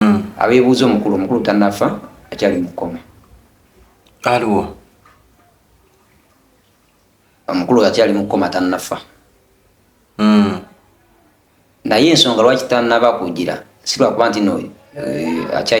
mm. abebuuza omukulu omukulu tanafa akyali mukoma aliwo omukulu akyali mukoma tanafa mm. naye ensonga lwaki tanaba kugira silwakuba nti no eh,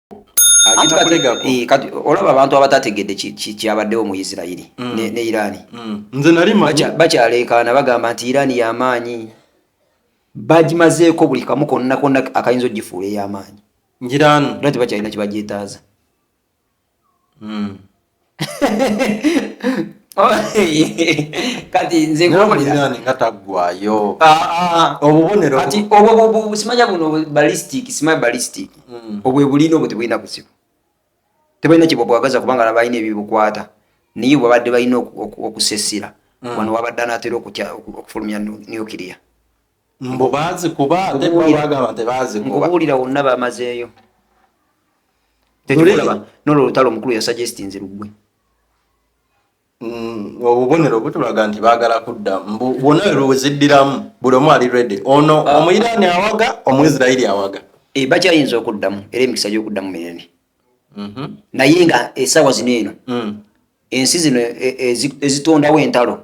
Eh, olaba abantu abatategedde kyabaddewo mu isirairi mm. ne irani mm. bakyaleekaana bagamba nti irani yamaanyi bagimazeeko buli kamu konna konna akayinza ogifuula eyamaanyi era tebakyalina kyebagyetaaza mm. kati nze nkuwulirani nga taggwayo obubonero kati obwo simanya buno ballistic simanya ballistic hmm. obwe bulina obwo tebulina kuzibu tebulina kyebwabwagaza kubanga nabalina ebibukwata naye bwabadde balina okusesira hmm. wano wabadde anatera okufulumya nuclear mbu bazikuba ate bo bagamba tebazikuba nkubuulira wonna bamazeeyo tekikulaba nolwo olutalo omukulu yasuggestinze lugwe Mm, obubonero butulaga nti bagala kudda mbu wona weziddiramu buli omu ali redi ono ah. omuyiraani awaga omuisirairi awaga eh, bakyayinza okuddamu era emikisa gyokuddamu minene mhm. naye nga esawa zino eno mm. ensi zino e, e, ezitondawo entalo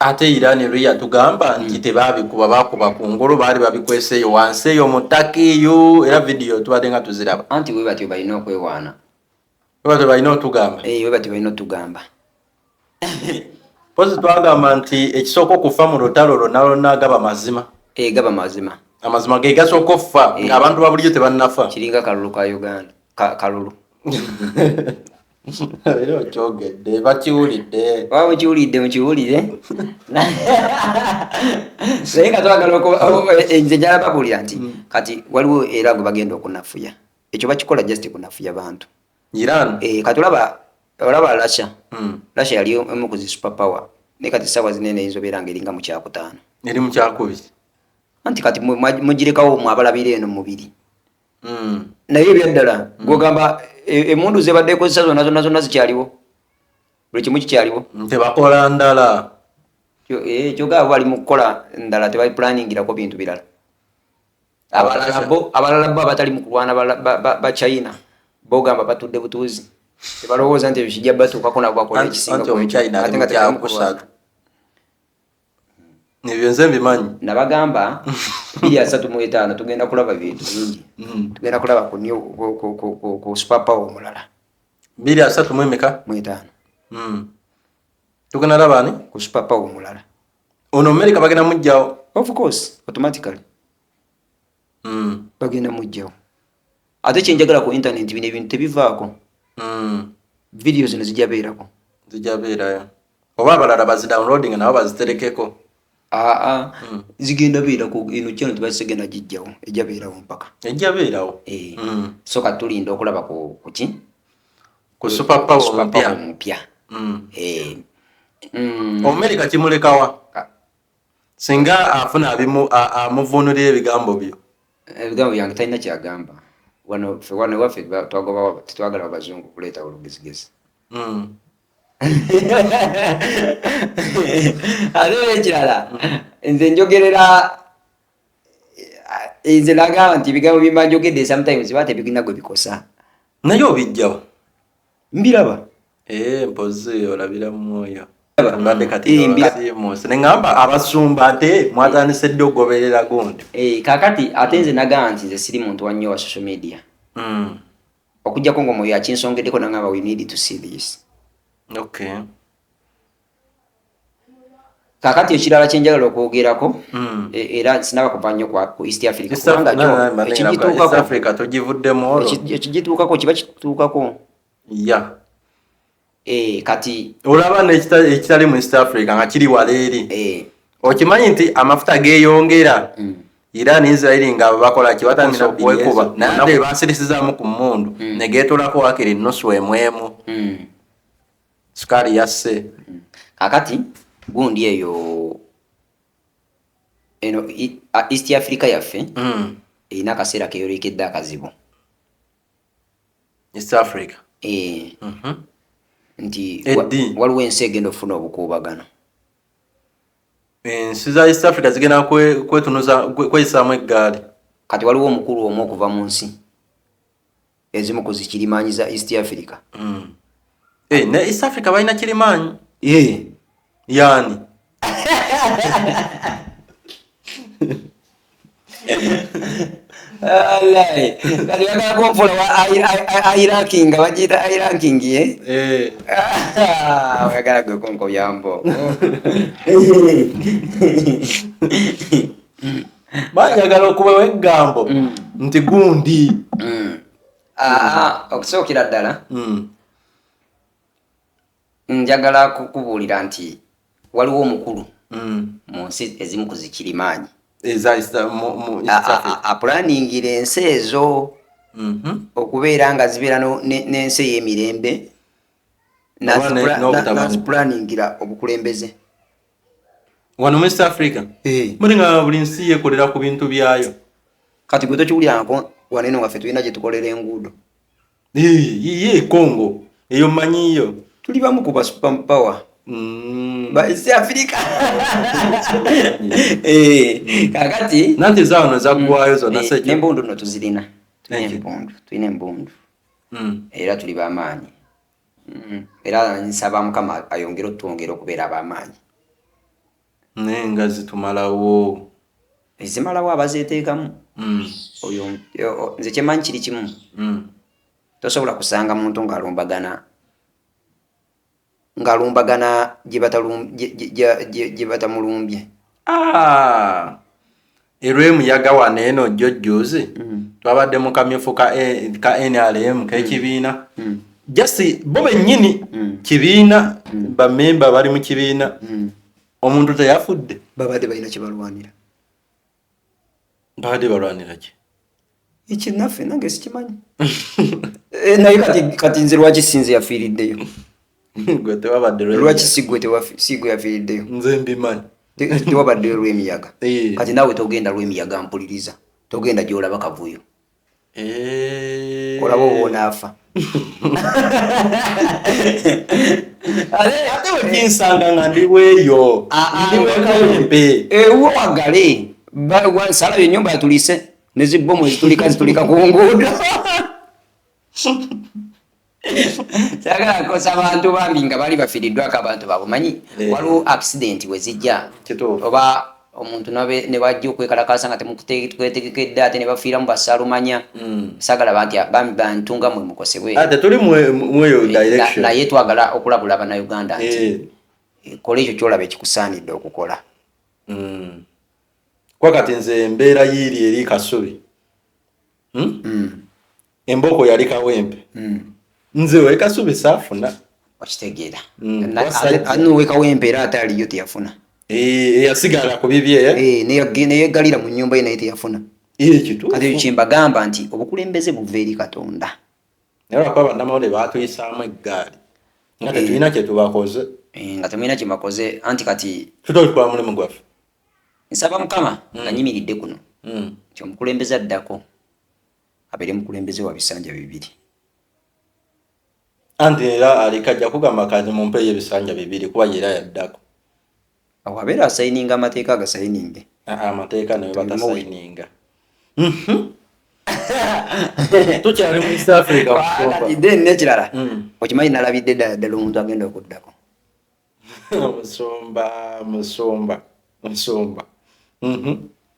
ate Iran lwe yatugamba nti mm. tebaabikuba baakuba ku ngulu baali babikwesa eyo wansi eyo mu ttaka eyo era vidiyo tubadde nga tuziraba anti we batyo balina okwewaana we batyo balina otugamba eh, we batyo balina otugamba pozi twagamba nti ekisooka okufa mu lutalo lwonna lwonna gaba mazima eh, gaba mazima amazima ge gasooka okufa eh. ng'abantu ba bulijjo tebannafa kiringa kalulu ka uganda kalulu era okyogedde bakiwulidde oba mukiwulidde mukiwulire naye nga twagala nze njala babulira nti mm. kati waliwo era gwe bagenda okunafuya ekyo bakikola just kunafuya bantu iran eh, kati olaba olaba lasha mm. lasha yali emu ku zi super power naye kati saawa zinene eyinza obeera nga eringa mu kyakutaano eri mu kyakubiri anti kati mugirekawo mwabalabira eno mubiri mm. naye ebyaddala mm. gwogamba e, emundu zebadde ekozesa zona zona zona zikyaliwo buli kimu kikyaliwo tebakola ndala e, kyogaa bali mukukola ndala tebaplaningirako bintu birala abalala bo abatali mukulwana bachina bogamba batudde butuuzi tebalowooza nti ebyo kijja batuukako nabo bakola ekisinga ebyo nze mbimanyi nabagamba biri asatu mu etaano tugenda kulaba bintu bingi mm. tugenda kulaba ku superpower omulala biri asatu mu emeka mu etaano mm. tugenda laba ani ku superpower omulala ono amerika bagenda mujjawo of course automatically mm. bagenda mujjawo ate kyenjagala ku intaneti bino ebintu tebivaako mm. vidiyo zino zijabeerako zijabeerayo oba abalala bazidownloading nabo baziterekeko aa mm. zigenda beerako eno kyano tebazisegenda gijjawo ejabeerawo mpaka ejabeerawo eh. so kati tulinda okulaba kuki ku superpower omupya omumerica kimulekawa singa afuna abimu amuvuunulira ebigambo byo ebigambo byange talina kyagamba wano fe wano ewaffe twagobawo tetwagala abazungu kuleeta olugezigezi hmm. ate ekirala nze njogerera eh, nze nagamba nti ebigambo byemba njogedde sometimes ba tebigina gwe bikosa naye obijjawo mbiraba eh, mpozi olabira mwoyo mbadde kati munsi neŋamba abasumba ate mwatandise ddi okugoberera gundi eh, kakati ate nze nagaa nti nze siri muntu wannyo wa social media hmm. okujjako ngaomwoyo akinsongeddeko nangamba we need to see this okay kakati ekirala kyenjagala okwogerako hmm. e, era sinaba kuva nnyo ku east africa ekigituukako kiba kituukako e, kati olaba nekitali mu east africa nga kiri wala eri e. okimanyi nti amafuta geyongera hmm. iran israeli nga bakola kibatandika okuwekuba naye basirisizamu ku mundu hmm. negetolako wakiri nusu emwemu sukaali yasse hmm. kakati gundi eyo eno east africa yaffe hmm. erina akaseera keyolekedde akazibu east africa eh. mhm. nti waliwo ensi egenda okufuna obukuubagano ensi za east africa zigenda kwetunuza kweyisaamu eggaali kati waliwo omukulu omu okuva mu nsi ezimu ku zikirimaanyi za east africa mm. hey, eh, ne east africa balina kirimaanyi yeah. Eh. yani airakinga bagiita airanking oyagala gwe kunkobyambo banjagala okubawo eggambo mm. nti gundi mm. ah, okusookera ddala mm. njagala kukubuulira nti waliwo omukulu mu nsi ezimu ku zikirimaanyi apulaningira ensi ezo mm-hmm. okubeera nga zibeera n'ensi ey'emirembe nazipulaningira obukulembeze wano mu east africa eh. muli nga buli nsi yekolera ku bintu byayo kati gwe tokiwulirako wano eno waffe tulina gyetukolera enguudo ye congo eyo manyiyo tuli bamu ku basupampawa mm. baisi afirika eh, kakati nanti zaona zagwayo zona mm. eh, nembundu no tuzirina tulina embundu tulina embundu mm. era tuli bamaanyi Mm, era nsaba mukama ayongere otwongere okubeera abamaanyi naye nga zitumalawo ezimalawo abazeteekamu mm. oyo nze kyemanyi kiri kimu mm. tosobola kusanga muntu ng'alumbagana ng'alumbagana gye batamulumbye ah! erwemuyaga wano eno jjo jjuuzi mm. twabadde mu kamyufu ka e, nrm kekibiina mm. mm. jasi bo bennyini kibiina bamemba bali mu kibiina omuntu teyafudde babadde balina kyebalwanira babadde balwanira ki ekyo naffe nange sikimanyi eh, naye kati nze lwaki sinze yafiiriddeyo lwaki sigwe yafiiriddeyo nze mbimanyi tewabaddeyo lwemiyaga eh. kati naawe togenda lwemiyaga mpuliriza togenda gyolaba kavuyo eh. olaba obonaafa ate wekinsanga nga ndiweeyo ah, ah, ndiwekawempe ewagale salabye enyumba yatulise ne zibbomu ezitulika zitulika ku nguudo sagala kosa abantu bambi nga bali bafiriddwako abantu babo manyi eh. waliwo accident wezijja oba omuntu ne bajja okwekalakasa nga temukwetegekedde ate ne bafiira mu basalumanya hmm. sagala banti bambi bantu nga mwe mukosebwenaye eh, twagala okulabula banauganda nti eh. kola ekyo kyolaba ekikusaanidde okukola hmm. kuba kati nze embeera yiiri eri kasubi hmm? mm. embooko yali kawempe mm. nze wekasubi saafuna okitegeera mm. anuwe kawempe era ate aliyo teyafuna eh, eyasigala ku bibye eh, neyeggalira mu nyumba ye naye teyafuna kati kyembagamba nti obukulembeze buva eri katonda naye lwakuba bannamawulire baatuyisaamu eggaali nga tetulina eh. kyetubakoze eh, nga temulina kyebakoze anti kati tutolikuba mulimu gwaffe nsaba mukama hmm. nga nyimiridde kuno hmm. nti omukulembeze addako abeere mukulembeze wa bisanja bibiri anti era aliko ajja kugamba kazi mumpeeyo ebisanja bibiri kuba yera yaddako awo abeera asayininga amateeka agasayininge amateeka nawe batasayininga mhm. tukyali mu east africa then nekirala mm. okimanyi nalabidde ddala ddala omuntu agenda okuddako musumba musumba musumba mhm.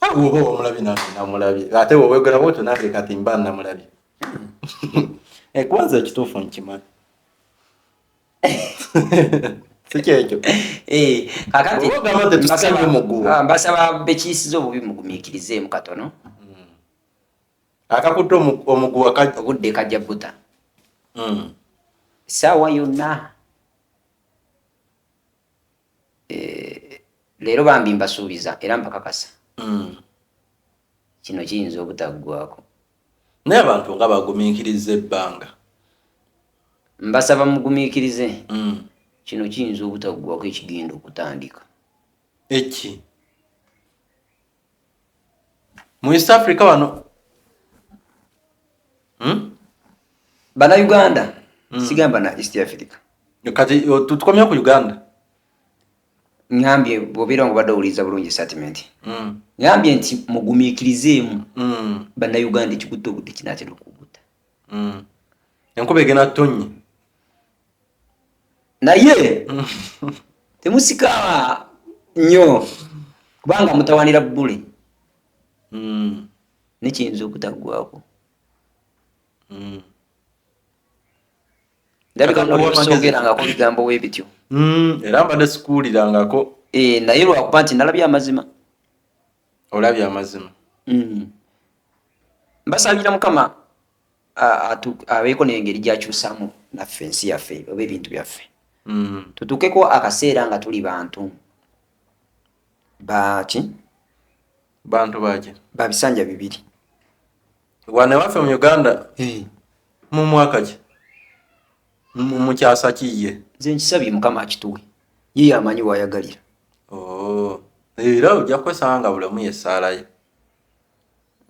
awoba ah, wamulabye nange namulabye ate wewegera bwotyo nange kati mba namulabye ekwanza eh, ekituufu nkimanyi sikyekyo eh, ah, mbasaba bekiisiza obubi mugumikirizeemu katono hmm. akakutte omuguwa ogudde kajja buta hmm. saawa yonna eh, leero bambi mbasuubiza era mbakakasa mm. kino kiyinza obutaggwako naye abantu nga bagumiikiriza ebbanga mbasaba mugumiikirize mm. kino kiyinza obutaggwako ekigenda okutandika eki mu east africa wano hmm? bana uganda hmm. sigamba na east africa kati tukomya ku uganda ngambye bobeera nga obadde owuliriza bulungi statement hmm. ngambye nti mugumikirizeemu bannayuganda ekikutte obudde kinatera okuguta enkuba egenda tonye naye temusika nnyo kubanga mutawanira bule hmm. nekiyinza okutaggwako hmm. ndabikaogerangako bigambo webityo hmm. era mbadde sikuwulirangako eh, naye lwakuba nti nalabye amazima olabye amazima mbasabira mukama abeeko n'engeri gyakyusamu naffe ensi yaffe oba ebintu byaffe mm. tutukeko akaseera nga tuli bantu baki bantu baki babisanja bibiri wane waffe mu uganda eh. mu mwaka ki mu kyasa kiye nze nkisabye mukama akituwe ye yamanyi wayagalira oh. era ojja kwesanga bulamu yesaalayo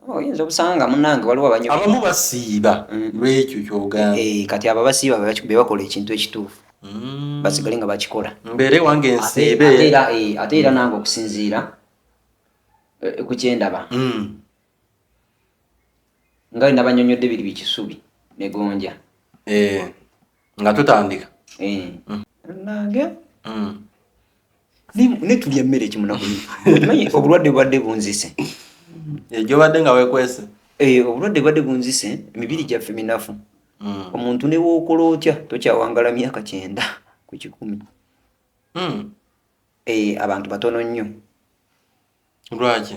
oyinza obusanga nga munange waliwo abanyo abamu basiiba mm. lwekyo kyogamba eh, kati abo abasiiba bebakola ekintu ekituufu mm. basigale nga bakikola mbeere wange nsiibe eh, ate era nange okusinziira eh, ku kyendaba mm. nga we nabanyonyodde biri bikisubi negonja nga tutandika eh. mm. nange mm. netulya emmere ekimunaku obulwadde bubadde bunzise egyobadde nga wekwese eh, obulwadde bubadde bunzise emibiri gyaffe minafu mm. omuntu newokola otya tokyawangala myaka kyenda ku kikumi eh, abantu batono nnyo lwaki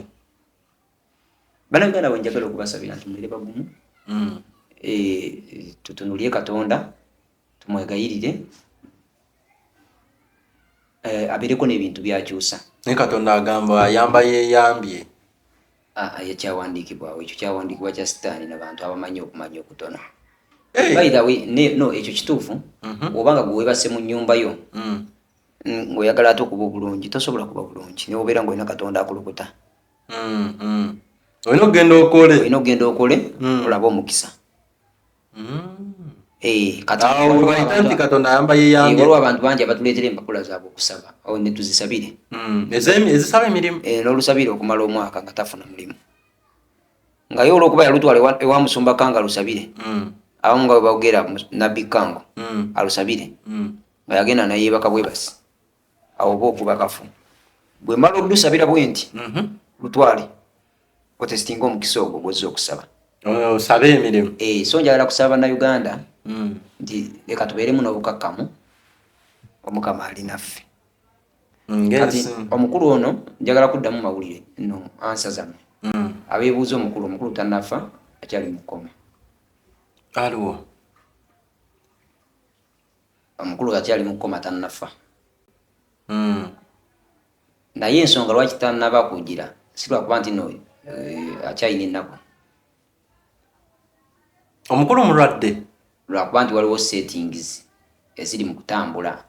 banaganda wenjagala okubasabira nti mubeere bagumu mm. e, tutunulire katonda tumwegayirire e, abeereko n'ebintu byakyusa naye katonda agamba ayamba yeyambye ekyawandiikibwawo ekyo kyawandiikibwa kya sitaani nabantu abamanyi okumanya okutono eh. no ekyo kituufu mhm. obanga gwewebase mu nyumba yo mm. ng'oyagala ate okuba obulungi tosobola kuba bulungi naye obeera ng'olina katonda akulukuta mm, mm. olina okugenda okole olina okugenda okole mm. olabe omukisa eh, waliwo abantu bangi abatuleetera empapula zaabwe okusaba netuzisabire ezisaba emirimu eh, n'olusabire okumala omwaka nga tafuna mulimu nga ye olwokuba yalutwala ewa musumba kanga alusabire abamu nga bwebagera nabbi kango alusabire nga yagenda nayebaka bwebasi awo oba okuba kafu bwemala olusabira bwenti mhm. lutwale otesitinga omukisa ogwo gwozza okusaba osabe emirimu eh, so njagala kusaba banauganda mm. nti leka tubeeremu n'obukakkamu omukama ali naffe mm, kati omukulu ono njagala kuddamu mawulire no ansa zammwe mm. abeebuuza omukulu omukulu tanafa akyali mukoma aliwo Omukulu kati ali mukoma tanafa. Mm. Naye ensonga lwaki tanaba kugira silwakuba nti no eh, akyalina ennaku. Omukulu mulwadde lwakuba nti waliwo settings eziri mu kutambula.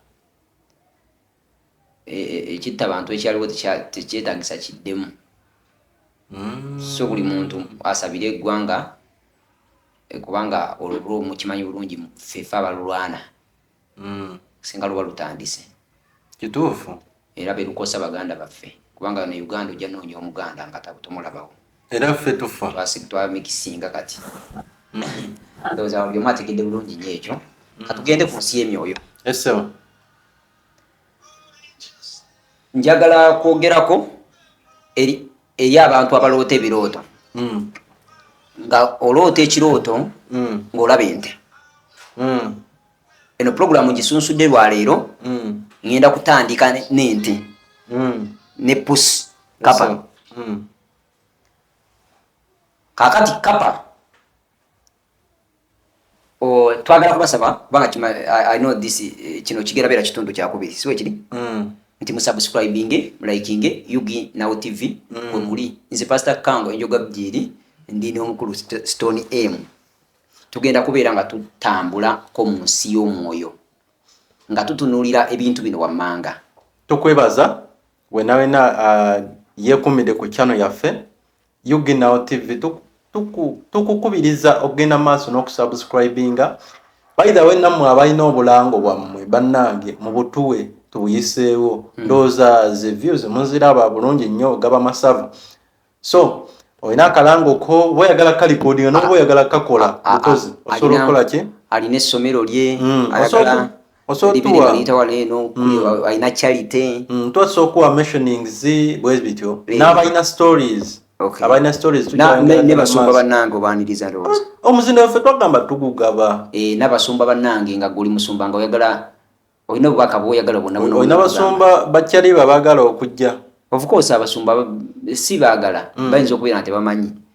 E- e- ekitta bantu ekyaliwo tekya- tekyetagisa kiddemu Mm. so buli muntu asabire eggwanga eh, kubanga olwo mukimanyi bulungi mu- fefe abalulwana Mm. singa luba lutandise kituufu era belukosa baganda baffe kubanga ne uganda ojja noonya omuganda nga tabu tomulabawo era ffe tufa Twasi- twamikisinga kati ndowooza buli omu ategedde bulungi nyo ekyo katugende ku nsi y'emyoyo esewa njagala kwogerako eri eri abantu abaloota ebirooto mm. nga oloota ekirooto mm. ngaolaba ente mm. eno pulogulaamu gisunsudde lwaleero mm. ŋenda kutandika nente mm. ne pus kapa mm. kakati kapa Oh, twagala kubasaba kubanga kima uh, i know this eh, kino kigera beera kitundu kyakubiri siwe kiri mm. nti musubscribinge mulikinge yugi now tv mm. wemuli nze pasta kango enjoga bjiri ndi nomukulu stone m tugenda kubeera nga tutambula ko mu nsi y'omwoyo nga tutunulira ebintu bino wammanga tukwebaza wenawena uh, yekumide ku chano yaffe UG Now TV tukukubiriza tuku, tuku okugenda maaso n'okusubscribinga by the way nammwe abalina obulango bwammwe bannange mu butuwe tubuyiseewo hmm. ndowooza ze views muziraba bulungi nnyo gaba masava so olina akalango ko oba oyagala kalikodinga noba oyagala kakola mukozi osobola okukola ki alina essomero lye hmm. alina charity mm, twasa okuwa mentionings bwe bityo n'abalina stories abalina storiesnebasumba banange obaniriza looza ah, omuzinda waffe twagamba tugugaba eh, nabasumba banange nga guli musumba nga oyagala olina obubaka bwoyagala bwonaolina basumba bakyaliba bagala okujja ofcourse abasumba si bagala mm. bayinza okubeera nga tebamanyi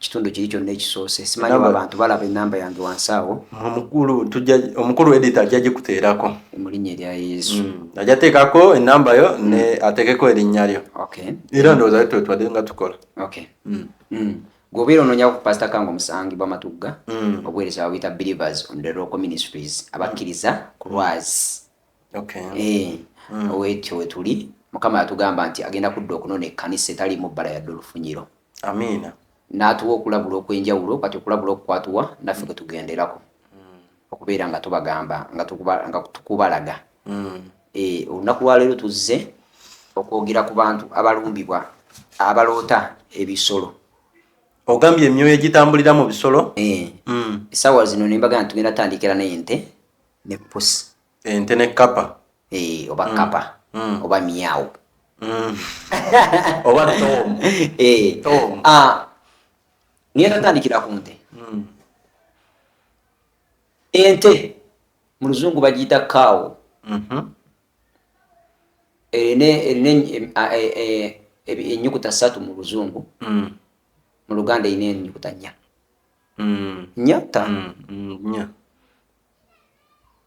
kitundu kiri kyonna ekisoose simanyi oba abantu balaba enamba yange wansi awo omukulu tujja omukulu edit ajja gikuteerako mu linnya erya yesu mm. ajja teekako enamba yo mm. ne ateekeko erinnya lyo okay era ndowooza yo twetwadde nga tukola okay mm. Mm. gwobeera onoonya ku pasita kanga omusangi bwamatugga mm. obuweereza babuyita believers on the local ministries abakkiriza ku lwazi okay. e, mm. wetyo wetuli mukama yatugamba nti agenda kudda okunona ekkanisa etalimu bbala yadde olufunyiro amiina n'atuwa okulabula okw'enjawulo kati okulabula okukwatuwa naffe kwe tugenderako mm. okubeera nga tubagamba nga tukubalaga mm. e, olunaku lwaleero tuzze okwogera ku bantu abalumbibwa abaloota ebisolo ogambye emyoyo egitambulira mu bisolo e. mm. esaawa zino nembaga nti tugenda tandikira nente ne pusi ente ne kapa eh, oba mm. kapa mm. oba miawo mm. oba tom eh. tom ah, niye tatandikira ku nte mm. ente mu luzungu bagiyita kawo mm -hmm. erina erina enyukuta satu mu luzungu mm. mu luganda erina enyukuta nya mm. nya ta mm. mm. nya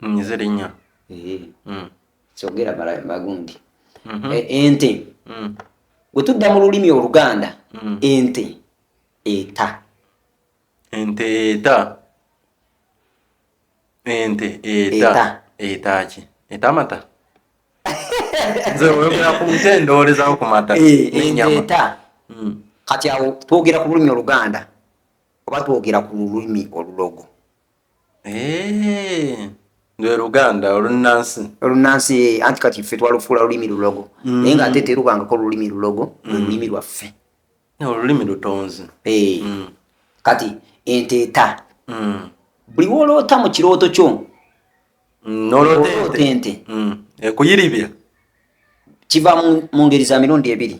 nze linya eh. mm. kyogera magundi mhm. e, ente mm. wetudda mu lulimi oluganda mm. ente eta ente eta ente eta eta ki eta amata nze oyogera ku nte ndowoolezawo ku mata eh, nenyama kati awo twogera ku lulimi oluganda oba twogera ku lulimi olulogo Eeeeeh lwe luganda olunnansi olunnansi eh, anti kati ffe twalufuula lulimi lulogo mm. naye nga ate terubangako lulimi lulogo lwe mm. lulimi lwaffe olulimi lutonzi eh. mm. kati enteeta buli woloota mu kirooto kyo noloota ente ekuyiribya kiva mu ngeri za mirundi ebiri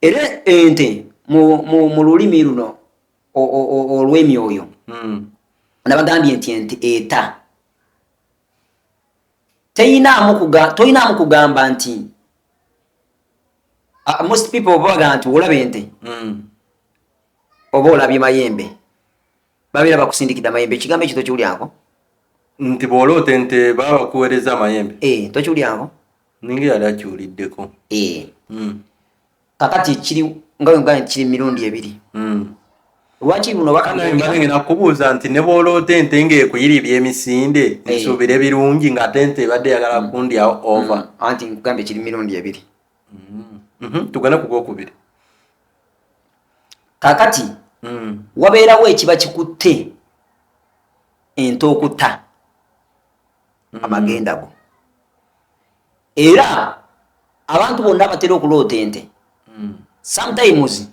era ente mu lulimi luno olw'emyoyo hmm. nabagambye nti ente eta toyinaamu kugamba nti ah, most people baga nti olaba ente hmm. oba olabye mayembe babeera bakusindikidde amayembe ekigambo ekyo tokiwulyako nti bw'oloota ente baba bakuweereza amayembe e, tokiwulyako ninga yali akiwuliddeko e. mm. kakati kiri nga wegane kiri mirundi ebiri mm. lwaki buno bakangenda kubuuza nti ne bw'oloota ente ng'ekuyiri by'emisinde e. nsuubira ebirungi ng'ate ente ebadde yagala mm. kundyawo ova mm. anti nkugambye kiri mirundi ebiri mm. mm-hmm. tugana ku gwokubiri kakati mm. wabeerawo ekiba kikutte ente okutta mm. amagenda go era abantu bonna abatera okuloota ente mm. sometimes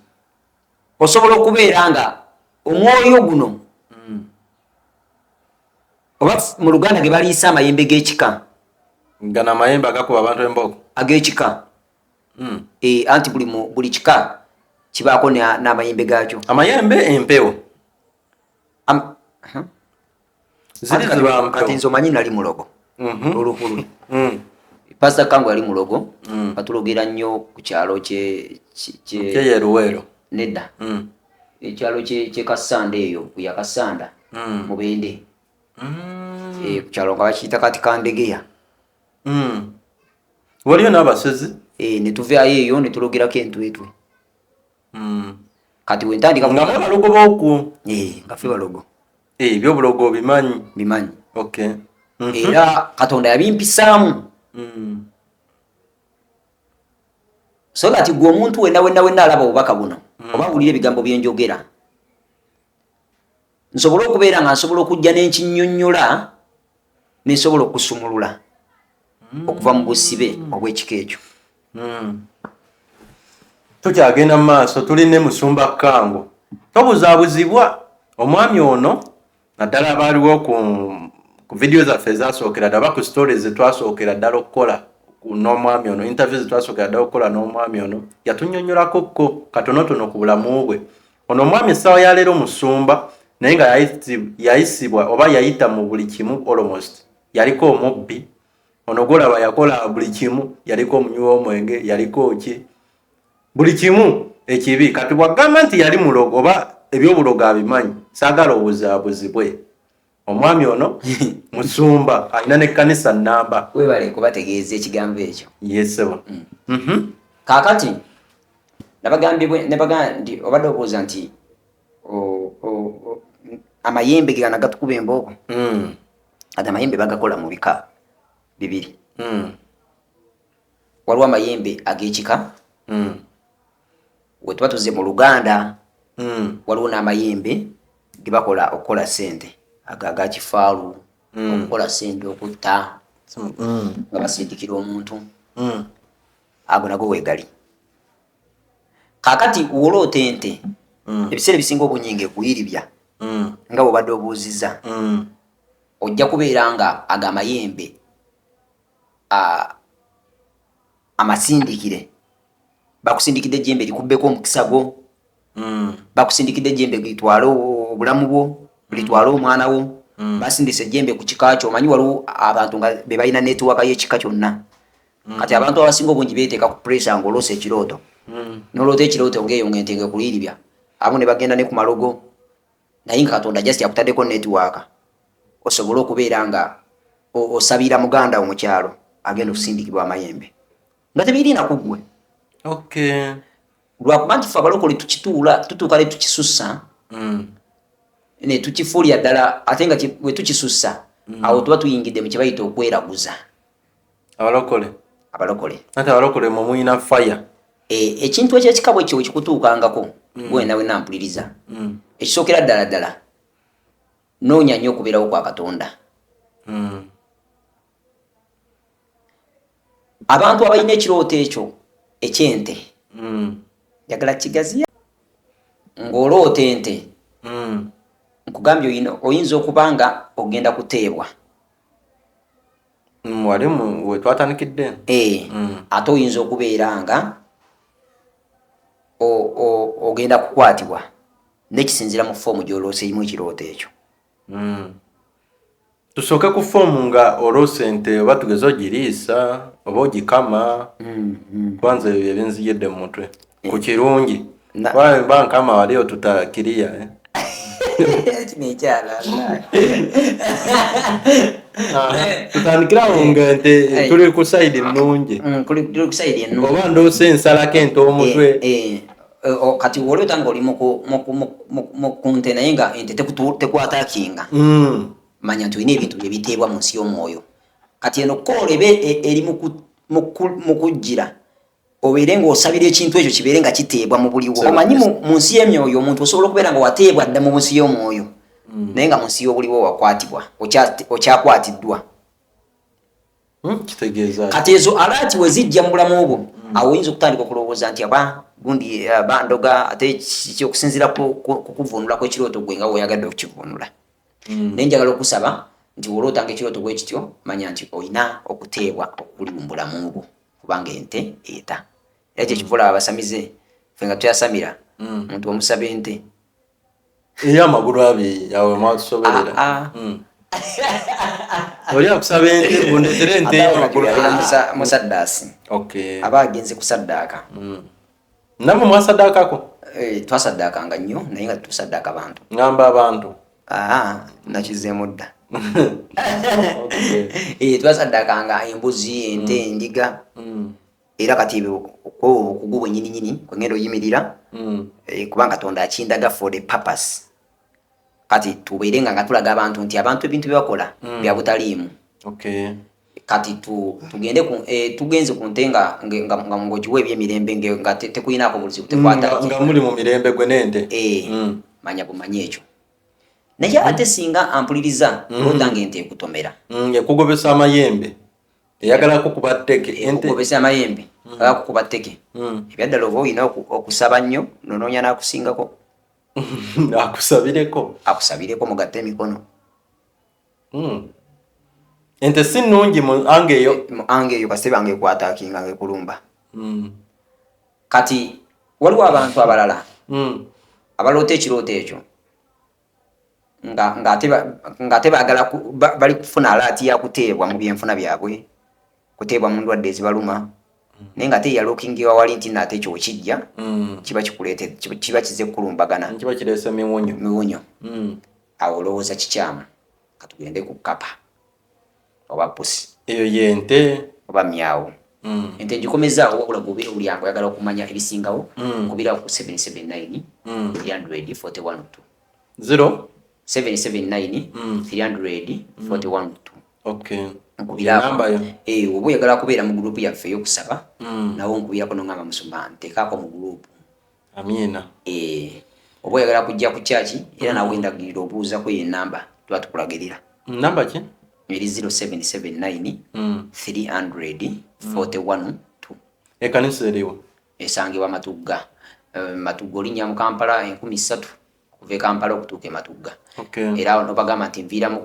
osobola okubeera nga omwoyo guno mm. oba mu luganda ge baliisa amayembe g'ekika gana amayembe agakuba abantu embogo ag'ekika mm. e, anti buli, mu, buli kika kibaako n'amayembe na gaakyo amayembe empewo Am, huh? kati nze omanyi nali mulogo mhm. olukulu mm. pasta kangu yali mulogo mm. atulogera nnyo ku kyalo kyeyeruweero nedda mm. ekyalo kyekasanda eyo kuyakasanda mubende eh, ku kyalo nga bakiyita kati kandegeya mm. waliyo n'abasezi e, netuvayo eyo netulogirako entwetwe mm. kati wentandika nga balogo boku e, nga fe balogo e, byobulogo bimanyi bimanyi okay. mm -hmm. era katonda yabimpisaamu mm. so that gwe omuntu wenna wenna wenna alaba obubaka buno mm. oba wulira ebigambo byenjogera nsobole okubeera nga nsobola okujja nenkinyonyola nensobola okusumulula mm. okuva mu busibe obwekika ekyo mm. tukyagenda mu maaso tuli ne musumba kango tobuzabuzibwa omwami ono naddala abaaliwo ku ku vidiyo zaffe ezasookera ddala oba ku story zetwasookera ddala okukola n'omwami ono interview zetwasookera ddala okukola n'omwami ono yatunyonyolako kko katonotono ku bulamu bwe Ono omwami essawa ya leero musumba naye nga yayisibwa oba yayita mu buli kimu almost yaliko omubbi ono golaba yakola buli kimu yaliko omunywi w'omwenge yaliko ki buli kimu ekibi kati bwagamba nti yali mulogo oba ebyobulogo abimanyi saagala obuzabuzibwe omwami ono musumba alina nekkanisa namba webale kubategeeza ekigambo ekyo yesebo mm. mhm. kakati nabagambibwenebaga nti obadde obuuza nti amayembe gegana gatukuba embooko mm. ati amayembe bagakola mu bika bibiri mm. waliwo amayembe agekika we tuba tuze mu luganda mm. waliwo n'amayembe gebakola okukola sente ago aga kifaalu mm. okukola sente okutta mm. nga basindikira omuntu mm. ago nago wegali kakati woloota ente mm. ebiseera ebisinga obunyinga ekuyiribya mm. nga bwebadde obuuziza mm. ojja kubeera nga ago amayembe amasindikire bakusindikidde ejjembe likubbeko omukisa gwo hmm. bakusindikidde ejjembe litwale obulamu bwo litwale omwana wo hmm. basindisa ejjembe ku kika kyo omanyi waliwo abantu nga be balina netiwaka y'ekika kyonna hmm. kati abantu abasinga obungi beeteeka ku puresa ng'oloosa ekirooto noloota ekirooto ngaeyo ng'ente nga ekuliiribya abamu ne bagenda ne ku malogo naye nga katonda just akutaddeko netiwaka osobole okubeera nga osabira muganda wo mu kyalo agenda okusindikibwa amayembe nga tebirina ku ggwe lwakuba nti fe abalokole tukituula tutuuka ne tukisussa mm. ne tukifuulira ddala ate nga bwe tukisussa mm. awo tuba tuyingidde mu kyebayita okweraguza abalokole abalokole ate abalokole mwe mulina faya e, ekintu ekyekikabo ekyo kikutuukangako mm. gwena wena mpuliriza ekisookera ddala ddala noonya nnyo okubeerawo kwa katonda abantu abalina ekirooto ekyo ekyente mm. njagala mm. kigaziya ng'oloota ente mm. nkugambye oyina oyinza okuba nga ogenda kuteebwa mm, wali wetwatandikidde e, mm. ate oyinza okubeera nga ogenda kukwatibwa nekisinzira mu foomu gyoloosa erimu ekirooto ekyo mm. Tusooke ku foomu nga oloosa ente oba tugeze ogiriisa oba ogikama mm-hmm. kwanza ebyo byebinzijidde mu mutwe ku kirungi ba nkama wali otuta kiriya eh? tutandikirawo nga nti tuli ku sayidi ennungi oba ndoosa ensalako ente omutwe eh, eh. Eh, oh, kati woleta nga oli mukunte naye nga ente tekwatakinga mm. manya nti olina ebintu byebiteebwa mu nsi y'omwoyo kati eno koola ebe e, eri mu kujjira obeere ngaosabira ekintu ekyo kibeere nga kiteebwa mu buliwo omanyi mu nsi y'emyoyo omuntu osobola okubeera nga wateebwa dda mu nsi y'omwoyo mm. naye nga mu nsi y'obuliwo wakwatibwa okyakwatiddwa Hmm, kati ezo alaati wezijja mu bulamu bwo hmm. awo oyinza okutandika okulowooza nti aba gundi eh, bandoga ate kiki okusinzira kukuvunulako ekirooto gwe nga weoyagadde okukivunula hmm. naye njagala okusaba nti wolootanga ekirooto bwe kityo manya nti olina okuteebwa okuli mu bulamu bwo kubanga ente eta era kyekivula abasamize fe nga tuyasamira omuntu omusaba ente eyo amagulu abiri yawe mwatusobolera ah, ah. hmm. oli akusaba ente bundetere ente musaddasi aba agenze kusaddaaka hmm. namwe mwasaddaakako eh, twasaddaakanga nnyo naye nga tusaddaaka abantu ngamba abantu nakizeemu dda eh, twasaddaakanga embuzi ente hmm. endiga era kati ebyo kwebwo bukugu bwenyini nyini kwengenda oyimirira mm. eh, kubanga katonda akindaga for the purpose kati tubeere nga nga tulaga abantu nti abantu ebintu byebakola mm. bya butaliimu okay. kati tu, tugende ku, eh, tugenze ku nte nga nga ngogiwa ebyemirembe nga tekulinaako te buzibu tekwata mm, nga muli mu mirembe gwe nente eh, mm. manya bumanya ekyo naye ate singa ampuliriza mm. odange nti ekutomera mm, ekugobesa amayembe eyagala kukuba tteke eh, okugobesa amayembe hmm. aga kukuba tteke hmm. ebyaddala oba olina okusaba nnyo nonoonya n'akusingako akusabireko akusabireko mugatte emikono hmm. ente si nnungi mu anga eyo eh, mu anga eyo kasebe anga ekwatakinga nga ekulumba kati waliwo abantu abalala abaloota ekirooto ekyo nga ng'ate ng'ate baagala bali kufuna alaati ya kuteebwa mu byenfuna byabwe kuteebwa mu ndwadde ezibaluma mm. naye ng'ate yalookingiwa wali nti no ate kyokijja mm. kiba kikuleete kiba kize kukulumbagana mm, kiba kireese miwunyo miwunyo awo olowooza kikyamu katugende ku kapa oba pusi eyo yente oba myawo mm. ente ngikomezaawo wabula gobera obulyanga oyagala okumanya ebisingawo mm. kubirawo ku 779 mm. 341 0 779 mm. 341 mm. okay. nkubirako eh, oba oyagala kubeera mu gurupu yaffe eyokusaba mm. nawo nkubirako nongamba musumba ntekaako mu gurupu amiina eh, oba oyagala kujja ku kyaki era nawe ndagirira obuuzako eyo enamba tuba tukulagirira namba ki eri 0779 300 41 ekanisa eriwo esangibwa matugga eh, matugga olinya mu kampala enkumi ssatu okuva e kampala okutuuka ematugga era awo nobagamba nti nviiramu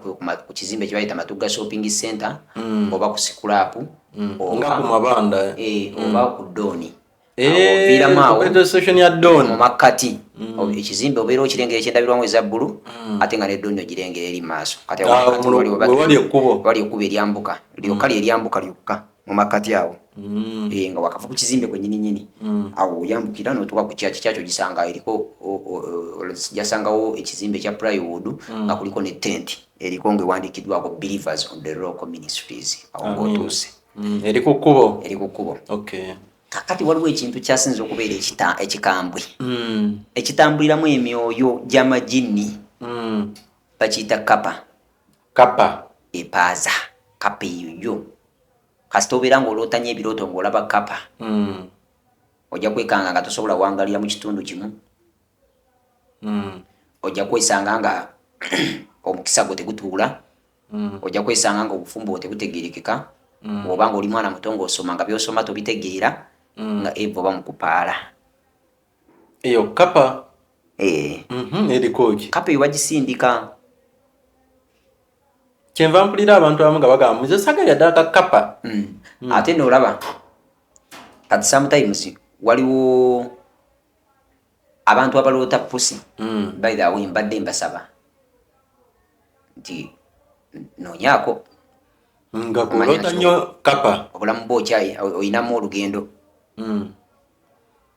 ku kizimbe kyebayita matugga shopping center mm. oba ku sikulaapu mm. nga ku mabanda eh? Eh, mm. oba ku dooni eh, oviiramu awomumakkati ekizimbe obeera okirengera ekyendabirwamu eza bbulu ate nga nedooni ogirengera eri maaso katiwali ah, ekkubo eryambuka lyokka lyeryaambuka lyokka mu makkati awo mm. eh, nga wakava ku kizimbe kwenyini nyini mm. awo oyambukira notuka ku kyaki kyakyo gisanga eriko jasangawo ekizimbe kya plywood mm. nga kuliko ne tent eriko nga ewandikiddwako believers on the rock ministries awo ngaotuuse eri ku kkubo eri ku kkubo kakati waliwo ekintu kyasinza okubeera ekikambwe ekitambuliramu emyoyo gy'amajinni bakiyita kapa Kappa epaaza kappa eyo yo kasita obeera nga oloota nyo ebirooto nga olaba kappa mm. ojja kwekanga nga tosobola wangalira mu kitundu kimu mm. ojja kwesanga nga omukisa gwo tegutuula mm. ojja kwesanga nga obufumbo bwo tebutegerekeka mm. oba nga oli mwana muto nga osoma nga byosoma tobitegeera mm. nga eva oba mukupaala eyo kapa eh mm -hmm, erikoki kapa eyo bagisindika kyenva mpulira abantu abamu nga bagamba muze sagalira ddala ka kapa mm. mm. ate noolaba kati sometimes waliwo abantu abaloota pusi mm. by the way mbadde mbasaba nti nonyako nga kulota nyo kapa obulamu bwo kyayi oyinamu olugendo mm.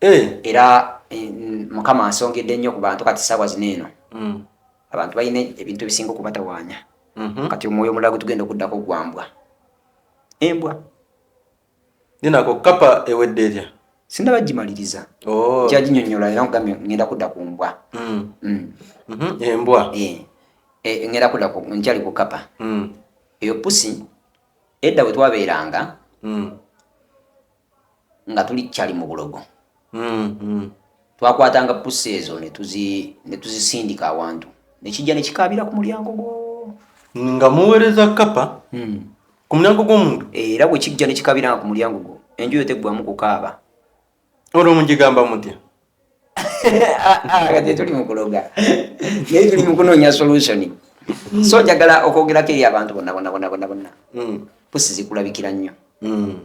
eh. era eh, mukama ansongedde nnyo ku bantu kati saawa zino eno mm. abantu balina ebintu ebisinga okubatawaanya mm-hmm. kati omwoyo omulala gwe tugenda okuddako ogwambwa embwa ninako kapa ewedde erya sinaba gimaliriza oh. kyaginyonyola era nkugambye ngenda kudda ku mbwa mm. Mm. Mm-hmm. embwa eh. Eh, ngenda kudda nkyali ku kapa eyo pusi edda we twabeeranga nga tuli cali mu bulogo mm-hmm. twakwatanga pusi ezo netuzisindika awantu nekijja nekikaabira ku mulyango gwo nga muweereza kapa hmm. ku mulyango gw'omuntu era bwe kijja nekikabiranga ku mulyango gwo enjuyo teggwamu kukaaba olwo mugigamba mutya kati tuli mukuloga naye tuli mukunoonya solution so njagala okwogerako eri abantu bonna bonna bonna bonna bonna hmm. pusi zikulabikira nnyo hmm.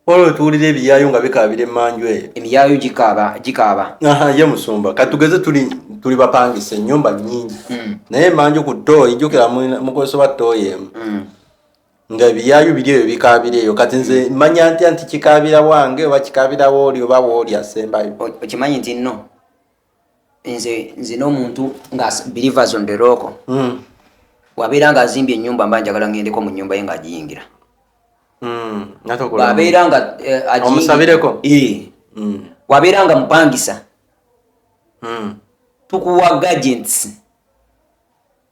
olwo tuwulira ebiyaayo nga bikaabira emanju eyo emiyaayo gikaaba gikaaba ye musumba katugeze tuli tuli bapangisa ennyumba nnyingi hmm. naye emanju ku tooyi jukira mukozesa ba tooyi emu nga ebiyaayu biri eyo bikaabira eyo kati nze manya ntya nti kikaabira wange oba kikaabira wooli oba wooli asembayo okimanyi nti no nze nze n'omuntu nga believers on the rock mm. wabeera nga azimbye enyumba mba njagala ngendeko mu nyumba ye nga agiyingira mm. wabeera nga eh, omusabireko mm. wabeera nga mupangisa mm. tukuwa gagents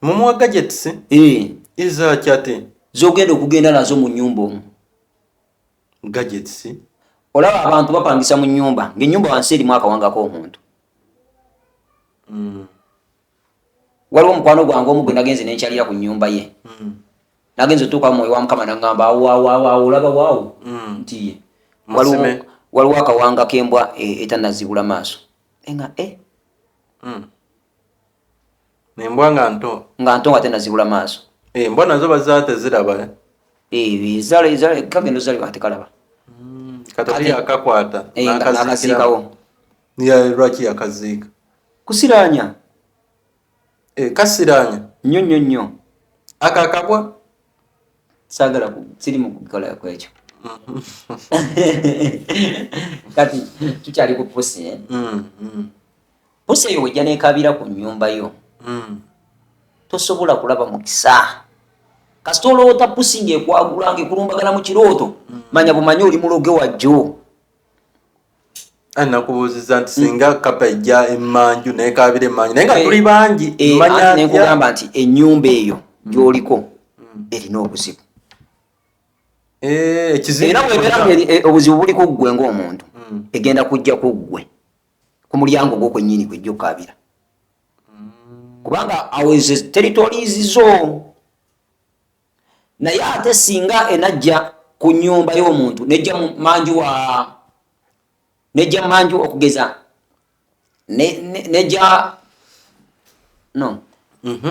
mumuwa gadgets eh iza chate zogenda okugenda nazo mu nyumba omu gadgets olaba abantu bapangisa mu nyumba nge nyumba wansi eri mwaka wanga ko omuntu mm. waliwo mukwano gwange omu gwe nagenze nenkyalira ku nyumba ye mm. nagenze otuuka mwoyo wa mukama nangamba awawawawo olaba wawo mm. nti ye waliwo akawanga kembwa e, etanazibula maaso enga e eh? mm. embwa nga nto nga nto nga tenazibula maaso eh, embwa nazo bazaa teziraba eh? eh, kagenda ozalibwa kati kalaba hmm, kati yakakwata nakasiikawo lwaki yakaziika kusiranya kasiranya nyo nyo nyo akakabwa sagala siri mukukola kwekyo kati tukyali ku pusi eh? mm, mm. pusa eyo wejja nekabira ku nyumba yo mm. tosobola kulaba mukisa kasita oloota pusi ngaekwagula ngaekulumbagana mu kirooto mm. manya bumanya oli muloge wajjo nakubuuziza nti singa mm. kapa ejja emanju nekabira emanju naye nga eh, tuli bangi eh, manyakugamba nti enyumba eyo mm. gyoliko mm. erina obuzibu eh, era webeera obuzibu buli ku ggwe ngaomuntu egenda kujja ku ggwe ku mulyango gwo kwennyini kwejja okukaabira kubanga awo ezo territories zo naye ate singa enajja ku nyumba y'omuntu nejja manju wa nejja manju okugeza nejja no mhm.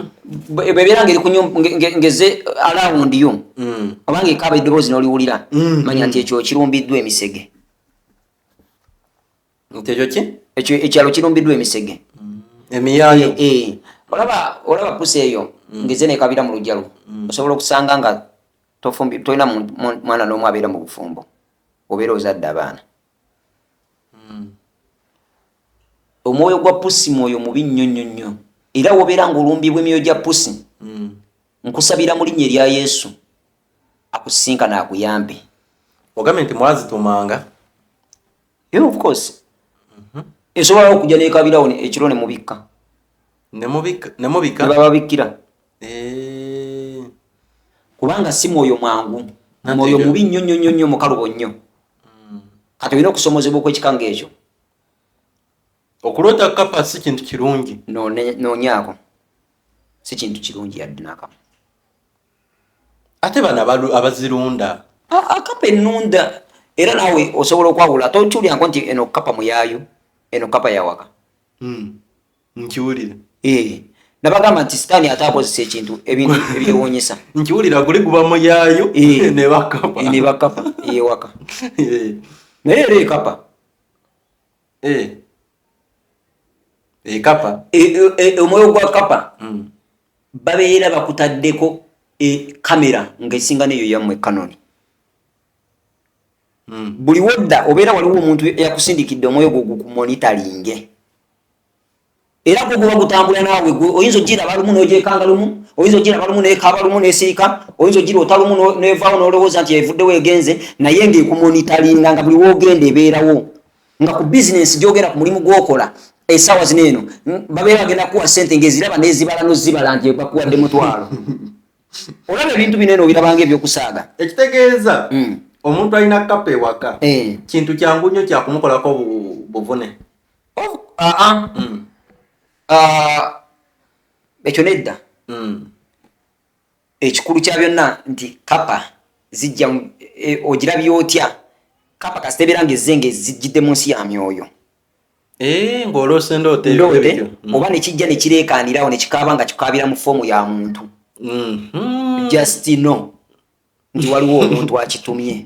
bwebeera ngeri ngeze alawundi yo mm. obanga ekaaba eddoboozi noliwulira mm. manya nti ekyo kirumbiddwa emisege nti ekyo ki ekyo ekyalo kirumbiddwa emisege mm. emiyaayo eh, eh. olaba olaba pusi eyo mm. ngeze nekabira mu lujjalo mm. osobola okusanga nga tofumbi tolina mwana n'omu abeera mu bufumbo obeera ozadde abaana omwoyo gwa pusi mwoyo mubi nnyo nnyo nnyo era wobeera nga olumbibwa emyoyo gya pusi nkusabira mu linnya erya yesu akusisinkana akuyambe ogambye nti mwazitumanga yeah, of course mhm. esobola mm -hmm. okuja nekabirawo ekiro nemubikka nebababikkira eh. kubanga si mwoyo mwangu mwoyo mubi nnyo nnyo nnyo nnyo mukalubo nnyo mm. kati olina okusomozebwa okwekikanga ekyo okuloota kapa si kintu kirungi nonyaako si kintu kirungi yadde nakamu ate bana abazirunda akapa enunda era nawe osobola okwawula ate okiwulirako nti eno kapa muyayo eno kapa yawaka hmm. nkiwulira eh. nabagamba nti sitaani ate akozesa ekintu ebintu ebyewunyisa nkiwulira guli guba muyayo eh. nebakapa yewaka eh. naye era ekapa ekapa omwoyo gwa kapa hmm. babeera bakutaddeko e kamera nga esinga neyo yammwe kanoni hmm. buli wodda obeera waliwo omuntu eyakusindikidde omwoyo gwo gukumonitalinge era gwo guba gutambula naawe gwe oyinza ogira balumu nojekanga lumu oyinza ogira balumu nekaba lumu nesirika oyinza ogira otalumu nevaawo nolowooza nti evuddewo egenze naye ngaekumonitalinga nga buli wogenda ebeerawo nga ku bizinensi gyogenda ku mulimu gwokola esaawa zino eno babeera bagenda kuwa sente ngaeziraba nezibala nozibala nti bakuwadde mutwalo olaba ebintu bino eno obirabanga ebyokusaaga ekitegeeza hmm. omuntu alina kapa ewaka eh. kintu kyangu nnyo kyakumukolako buvune oh, ah, ah. Hmm. Ah, ekyo nedda hmm. ekikulu kya byonna nti kapa zijja e, ogirabye otya kapa kasita ebeera nga ezze nga ezijjidde mu nsi ya myoyo eh, ng'olose ndoote mm. oba nekijja nekireekaanirawo nekikaaba nga kikaabira mu foomu ya muntu mm-hmm. just no nti waliwo omuntu akitumye